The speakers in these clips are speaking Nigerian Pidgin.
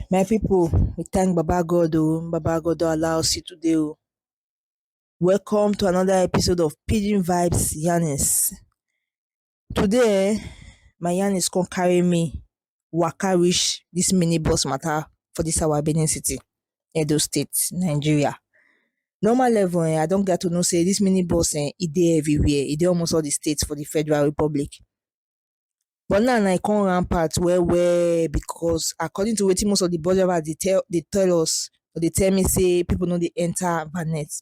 My people, we thank Baba God oh, Baba God don allow us see today oh. Welcome to another episode of Pidgin Vibes Yarnings. Today um my yanis come carry me waka reach dis mini bus matter for dis our Benin city, Edo state, Nigeria. Normal level um I don gat to know sey dis mini bus um e dey everywhere, e dey almost all de state for de Federal Republic. But now na e come rampant well well because according to wetin most of de bus drivers dey tell dey tell us, dey tell me sey pipu no dey enter bonnet.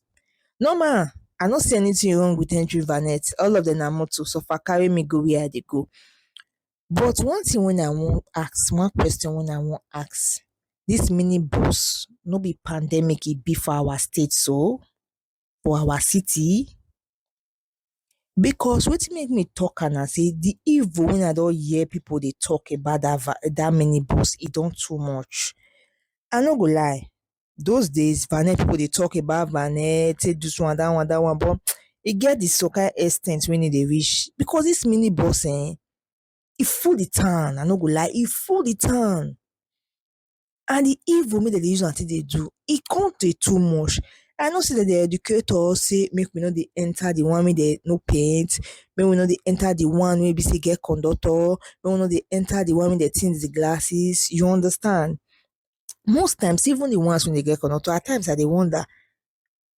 Normal, I no see anything wrong with entering Vanet, all of them na motor so far carry me go where I dey go. But one thing wey I wan ask, one question wey I wan ask, this mini bus no be pandemic e be for our state so? For our city? Because wetin make me talk am na sey the evil wey I don hear people dey talk about that va, that mini bus e don too much. I no go lie, those days na net people dey talk about na net take this one that one that one but e get the some kind ex ten t wey no dey reach because this mini bus um e full the town i no go lie e full the town and the evil wey dem dey use am take dey do e come dey too much i know say dem dey educate us say make we no dey enter the one wey dem no paint make we no dey enter the one wey be say e get conductor make we no dey enter the one wey dem tint the glasses you understand most times even the ones wey dey get conductor at times i dey wonder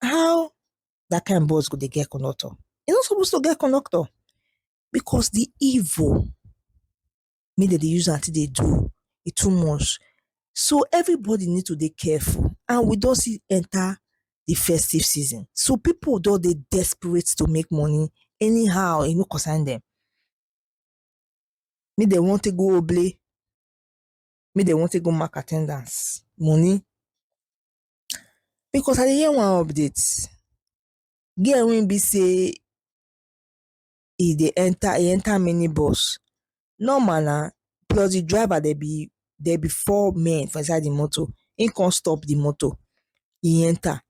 how that kind bus go dey get conductor e no suppose to get conductor because the evil wey dem dey use am take dey do e too much so everybody need to dey careful and we don still enter the festive season so people don dey desperate to make money anyhow e no concern dem make dem wan take go oble make dem wan take go mark attendance money because I dey hear one update girl wey be say e dey enter e enter mini bus normal na plus the driver dem be dem be four men for inside the motor him come stop the motor e enter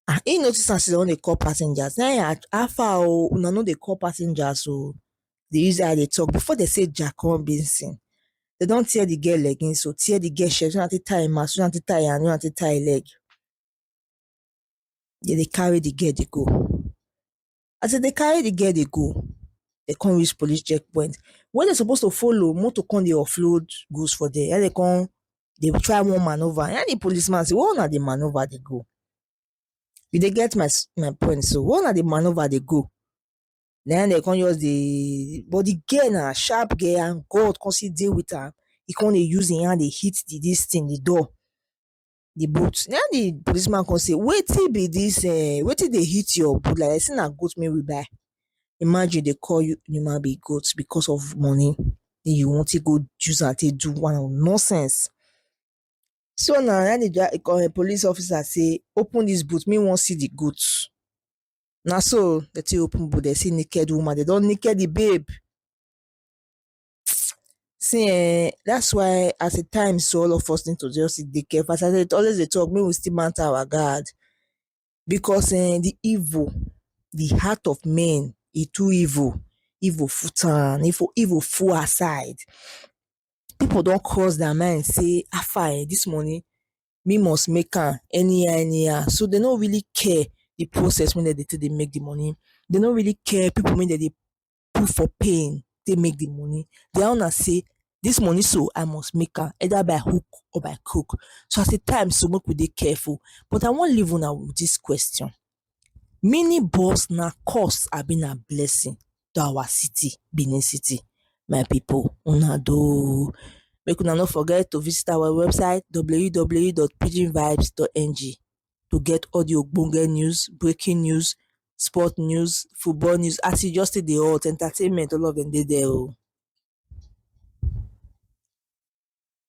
ah he notice as he don dey call passengers na him how far oh una no dey call passengers oh dey use eye dey talk before dem say ja kon benson dem don tear the girl leggings oh tear the girl shirt use am take tie him mouth use am take tie him hand use am take tie him leg dem dey carry the girl dey go As dem dey carry the girl dey go, dem con reach police checkpoint. When dem suppose to follow, motor con dey offload goods for dere. Na im dem con dey try wan manoeuvre. Na im the policeman say, where huna dey manoeuvre dey go? You dey get my my point so. Where huna dey manoeuvre dey go? Na im dem con just dey but the girl na sharp girl and God con still dey with am. E con dey use im hand dey hit the dis thing, the door. the boot na im the policeman come say wetin be this eh wetin dey hit your boot like that say na goat make we buy imagine dey call you human being goat because of money wey you wan take go use am take do one or nonsense so na na im the dri police officer say open this boot me wan see the goat na so dey take open boot dey see naked woman dey don naked the babe See um that's why at a time so all of us need to just dey careful as I dey always dey talk make we still mount our guard because um the evil the heart of men e too evil, evil full town evil full outside people don cross their mind sey how far um this money me must make am anyhow anyhow so dey no really care the process wey dem dey take dey make the money dey no really care people wey dem dey put for pain take make the money. Their own na sey dis money so I must make am either by hook or by crook. So as e time so make we dey careful. But I wan leave una with dis question, mini bus na curse abi na blessing to our city Benin City? My pipu una do o. Make una no forget to visit our website www.pidginvibes.ng. to get all the ogbonge news, breaking news, sport news, football news, as e just take dey hot, entertainment all of dem dey there o.